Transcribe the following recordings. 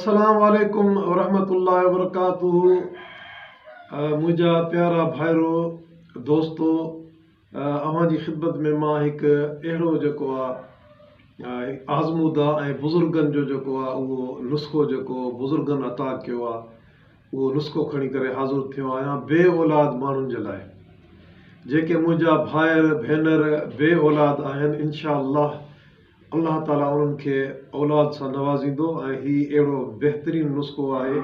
السلام عليڪم ورحمة الله وبرڪاته منهنجا پيارا ڀائرو دوستو اوهان جي خدمت ۾ مان هڪ اهڙو جيڪو آهي آزموده ۽ بزرگن جو جيڪو آهي اهو نسخو جيڪو بزرگن عطا ڪيو آهي اهو نسخو کڻي ڪري حاضر ٿيو آهيان بي اولاد ماڻهن جي لاء جيڪي منهنجا ڀائر ڀينر بي اولاد آهن انشاء الله الله تعالي انهن کي اولاد سان نوازيندو ۽ هي اهڙو بهترين نسخو آهي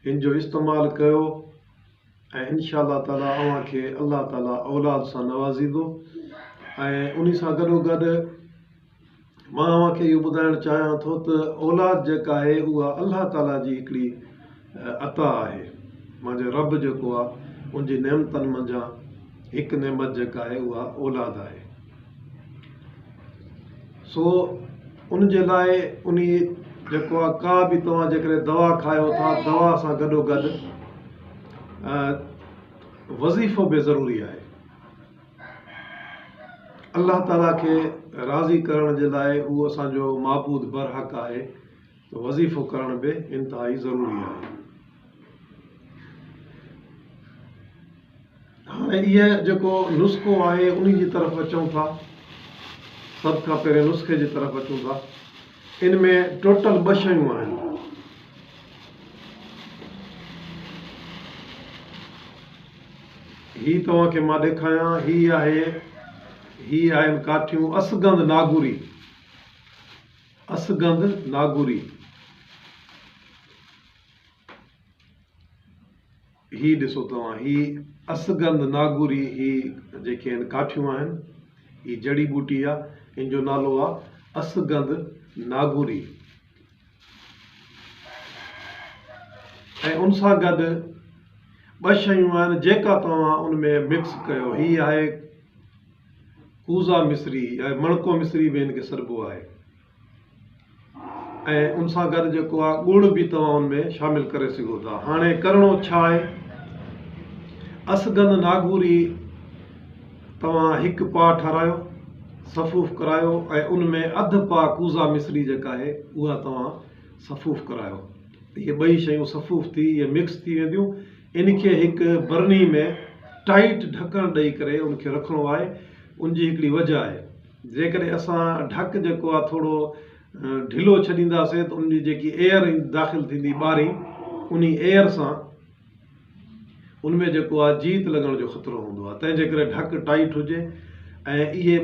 هن جو استعمال ڪيو ۽ ان شاء الله تعالي اوهان کي الله تعالي اولاد سان نوازيندو ۽ انهي سان گڏو گڏ مان اوهان کي اهو ٻڌائڻ چاهيان ٿو ته اولاد جيڪا آهي اها الله تعالي جي هڪڙي عطا آهي منهنجي رب جيڪو آهي ان جي نعمتن منجهان هڪ نعمت جيڪا آهي اها اولاد آهي سو ان جي لاء انهي جيڪو آهي ڪا به توهان جيڪڏهن دوا کايو ٿا دوا سان گڏو گڏ وظيفو به ضروري آهي الله تعاليٰ کي راضي ڪرڻ جي لاء هو اسان جو معبود برحق آهي وظيفو ڪرڻ به انتهائي ضروري آهي. هاڻي اهي جيڪو نسخو آهي انهي جي طرف اچون ٿا. سڀ کان پهرين نسخي جي طرف اچون ٿا. ان ۾ ٽوٽل ٻه شيون آهن. هي توهان کي مان ڏيکايان هي آهي هي آهن ڪاٺيون اسگند ناگوري. اسگند ناگوري هي ڏسو توهان هي اسگند ناگوري هي جيڪي آهن ڪاٺيون آهن هي جڙي ٻوٽي آ ان جو نالو آ اسگند ناگوري ۽ ان سان گڏ ٻه شيون آهن جيڪا توهان ان ۾ مڪس ڪيو هي آهي ڪوزا مصري يا مڻڪو مصري به هن کي سڏبو آهي ۽ ان سان گڏ جيڪو آهي ڳڙ به توهان ان ۾ شامل ڪري سگهو ٿا هاڻي ڪرڻو ڇا آهي اسگند ناگوري توهان هڪ پاء ٺارايو صفوف ڪرايو ۽ ان ۾ اڌ پاء ڪوزا مصري جيڪا آهي اها توهان صفوف ڪرايو هي ٻئي شيون صفوف ٿي هي مڪس ٿي وينديون ان کي هڪ برني ۾ ٽائيٽ ڍڪڻ ڏئي ڪري ان کي رکڻو آهي ان جي هڪڙي وجه آهي جيڪڏهن اسان ڍڪ جيڪو آهي ٿورو ڍلو ڇڏينداسين ته ان جي جيڪي ايئر داخل ٿيندي ٻارين ان ايئر سان ان ۾ جيڪو آهي جيت لڳڻ جو خطرو هوندو آهي تنهنجي ڪري ڍڪ ٽائيٽ هجي ۽ اهي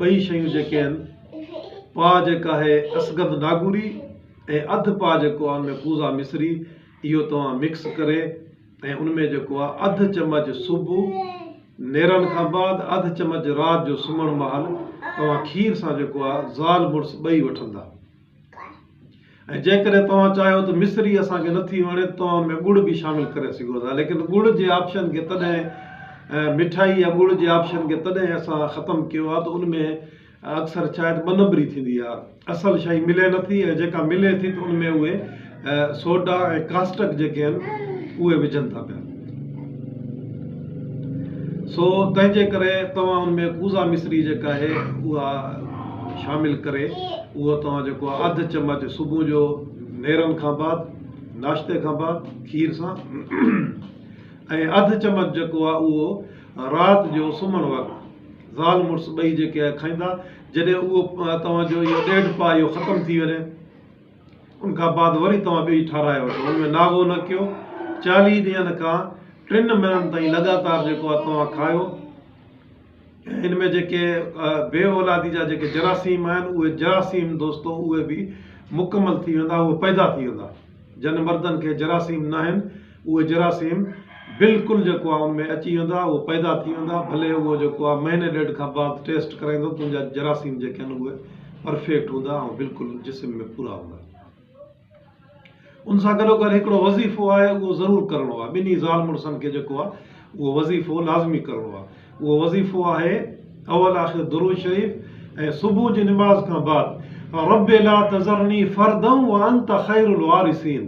ٻئي شيون جيڪي آهن پاء جيڪا آهي اسگند ناگوري ۽ اڌ پاء جيڪو آهي ان ۾ پوزا مصري اهو توهان مڪس ڪري ۽ ان ۾ جيڪو آهي اڌ چمچ صبح نيرڻ کان بعد اڌ چمچ رات جو سمهڻ مهل توهان کير سان جيڪو آهي زال مڙس ٻئي وٺندا ۽ جيڪڏهن توهان چاهيو ته مصري اسان کي نٿي وڻي ته توهان ان ۾ ڳڙ به شامل ڪري سگهو ٿا ليڪن ڳڙ جي آپشن کي تڏهن مٺائي يا ڳڙ جي آپشن کي تڏهن اسان ختم ڪيو آهي ته ان ۾ ۽ اڪثر شايد ٻه نمبري ٿيندي آ اصل شئي ملي نه ٿي ۽ جيڪا ملي ٿي ته ان ۾ اهي سوڊا ۽ ڪاسٽڪ جيڪي آهن اهي وجهن ٿا پيا سو تنهن جي ڪري توهان ان ۾ ڪوزا مصري جيڪا آهي اها شامل ڪري اهو توهان جيڪو آ اڌ چمچ صبح جو نيرن کان بعد ناشتي کان بعد کير سان ۽ اڌ چمچ جيڪو آ اهو رات جو سمهڻ وقت زال مڙس ٻئي جيڪي آهي کائيندا جڏهن اهو توهان جو اهو ڏيڍ پاء اهو ختم ٿي وڃي ان کان بعد وري توهان ٻئي ٺاراهي وٺو ان ۾ ناغو نه ڪيو چاليهه ڏينهن کان ٽن مهينن تائين لڳاتار جيڪو آهي توهان کايو ان ۾ جيڪي بي اولادي جا جيڪي جراثيم آهن اهي جراثيم دوستو اهي به مڪمل ٿي ويندا اهي پيدا ٿي ويندا جن مردن کي جراثيم ناهن اهي جراثيم بلڪل جيڪو آهي ان ۾ اچي ويندا اهي پيدا ٿي ويندا ڀلي اهو جيڪو آهي مهيني ڏيڍ کان بعد ٽيسٽ ڪرائيندو تنهنجا جراثيم جيڪي آهن اهي پرفيڪٽ هوندا ۽ بلڪل جسم ۾ پورا هوندا ان سان گڏو گڏ هڪڙو وظيفو آهي اهو ضرور ڪرڻو آهي ٻنهي زال مڙسن کي جيڪو آهي اهو وظيفو لازمي ڪرڻو آهي اهو وظيفو آهي اول آخر درود شريف ۽ صبح جي نماز کان بعد رب لا تذرني فردن وانت خير الوارثين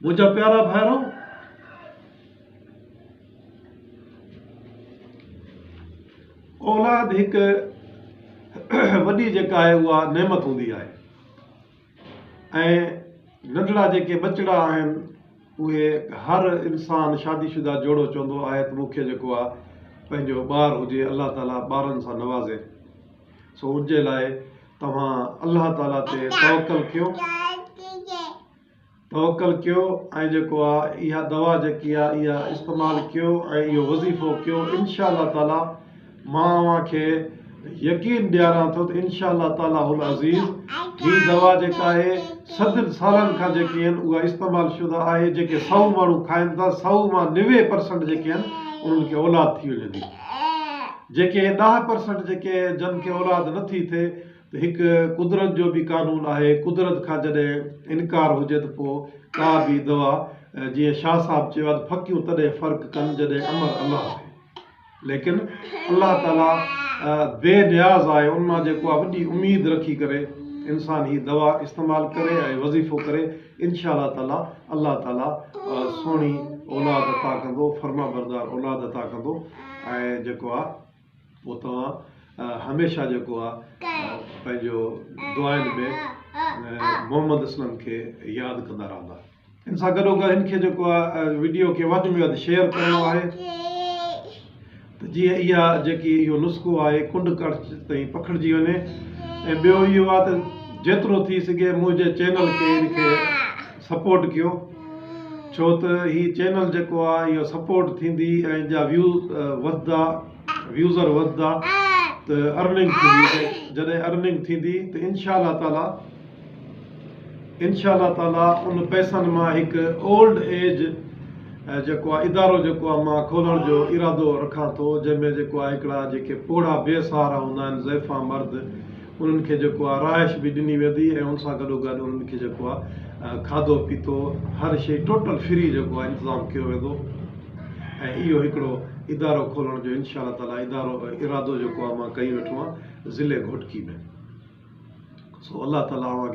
منهنجا پيارا ڀائرو! اولاد هڪ وڏي جيڪا آهي اها نعمت هوندي آهي ۽ ننڍڙا جيڪي ٻچڙا آهن اهي هر انسان شادي شده جوڙو چوندو آهي ته مون کي جيڪو آهي پنهنجو ٻار هجي الله تعالي ٻارن سان نوازي سو ان جي لاء توهان الله تعالي تي توڪل ڪيو توڪل ڪيو ۽ جيڪو آ اها دوا جيڪي آ اها استعمال ڪيو ۽ اهو وظيفو ڪيو انشاء الله تعالي مان اوهان کي يقين ڏياران ٿو ته انشاء الله تعالي العزيز هي دوا جيڪا آهي صدن سالن کان جيڪي آهن اها استعمال شده آهي جيڪي سو ماڻهو کائن ٿا سو مان نوي پرسنٽ جيڪي آهن انهن کي اولاد ٿي وڃن ٿي جيڪي ڏاهه پرسنٽ جيڪي جن کي اولاد نه ٿي ٿئي ته هڪ قدرت جو به قانون آهي قدرت کان جڏهن انڪار هجي ته پوء ڪا به دوا جيئن شاهه صاحب چيو آهي ته ڦڪيون تڏهن فرق ڪن جڏهن امر الله ٿئي ليڪن الله تعالي بي نياز آهي ان مان جيڪو آهي وڏي اميد رکي ڪري انسان هي دوا استعمال ڪري ۽ وظيفو ڪري انشاء الله تعالي الله تعالي سهڻي اولاد عطا ڪندو فرمانبردار اولاد عطا ڪندو ۽ جيڪو آ پو توهان هميشه جيڪو آ پنهنجو دعائن ۾ محمد اسلم کي ياد ڪندا رهندا ان سان گڏو گڏ هن کي جيڪو آ وڊيو کي وڌ ۾ وڌ شيئر ڪرڻو آهي ته جيئن اها جيڪي اهو نسخو آهي ڪنڊ ڪڙڇ تائين پکڙجي وڃي ۽ ٻيو اهو آهي ته جيترو ٿي سگهي منهنجي چينل کي ان کي سپورٽ ڪيو ڇو ته هي چينل جيڪو آهي اهو سپورٽ ٿيندي ۽ جا ويو وڌدا ويوزر وڌدا ته ارننگ ٿيندي جڏهن ارننگ ٿيندي ته انشاء الله تعاليٰ انشاء الله تعالي ان پئسن مان هڪ اولڊ ايج جيڪو آهي ادارو جيڪو آهي مان کولڻ جو ارادو رکان ٿو جنهن ۾ جيڪو آهي هڪڙا جيڪي پوڙها بي سهارا هوندا آهن ضعيفا مرد انهن کي جيڪو آهي رهائش به ڏني ويندي ۽ ان سان گڏو گڏ انهن کي جيڪو آهي کاڌو پيتو هر شيء ٽوٽل فري جيڪو آهي انتظام ڪيو ويندو ۽ اهو هڪڙو ادارو کولڻ جو انشاء الله تعالي ادارو ارادو جيڪو آهي مان ڪئي ويٺو آهيان ضلعي گهوٽڪي ۾. سو الله تعالي اوهان کي.